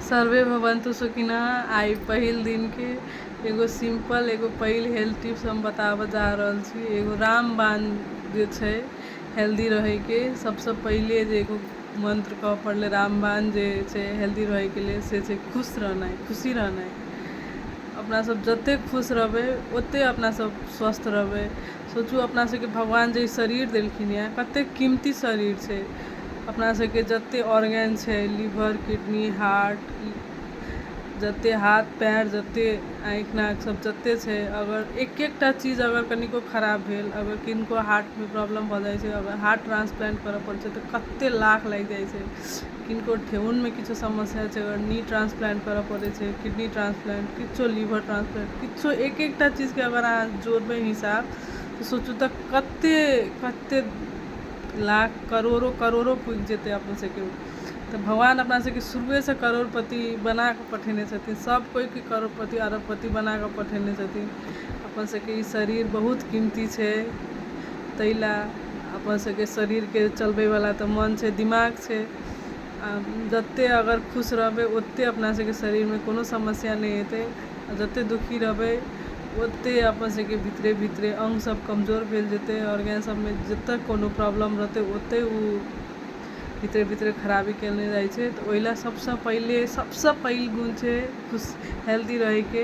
survey भवन्तु सुखिनः आइ पहिल दिनके एगो सिम्पल एगो पहिल हेल्थ टिप्स हम बताबऽ जा रहल छी एगो रामबाण जे छै हेल्दी रहैके सबसँ पहिले जे एगो मन्त्र कहऽ पड़लै रामबाण जे छै हेल्दी रहैके लेल से छै खुश रहनाइ खुशी रहनाइ अपना सब जते खुश रहबै ओते अपना सब स्वस्थ रहबै सोचू अपना सबके भगवान जे ई शरीर देलखिन यऽ कतेक कीमती शरीर छै अपना सबके जते ऑर्गेन छै लीवर किडनी हार्ट जते हाथ पयर जते आँखि नाक सब जते छै अगर एक एकटा चीज अगर कनिको खराब भेल अगर किनको हार्टमे प्रॉब्लम भऽ जाइ छै अगर हार्ट ट्रांसप्लांट करऽ पड़ै छै तऽ कते लाख लागि जाइ छै किनको ठेहुनमे किछु समस्या छै ओकरा नी ट्रान्सप्लान्ट करऽ पड़ै छै किडनी ट्रान्सप्लान्ट किछु लीवर ट्रान्सप्लान्ट किछु एक एकटा चीजके अगर अहाँ जोड़बै हिसाब तऽ सोचू तऽ कते कते लाख करोड़ो करोड़ो पुजि जेतै अपन सबके तऽ भगवान अपना सबके शुरुएसँ करोड़पति बनाकऽ पठेने छथिन सब कोइके करोड़पति अरबपति बनाकऽ पठेने छथिन अपन सबके ई शरीर बहुत कीमती छै तै लए अपन सबके शरीरके चलबै वला तऽ मन छै दिमाग छै आ जते अगर खुश रहबै ओते अपना सबके शरीरमे कोनो समस्या नहि एतै आ जते दुखी रहबै ओते अपन सबके भीतरे भीतरे अंग सब कमजोर भेल जेतै ऑर्गेन सबमे जतऽ कोनो प्रॉब्लम रहतै ओते ओ भीतरे भीतरे खराबी केने जाइ छै तऽ ओहि लए सबसँ पहिले सबसँ पैघ गुण छै हेल्दी रहैके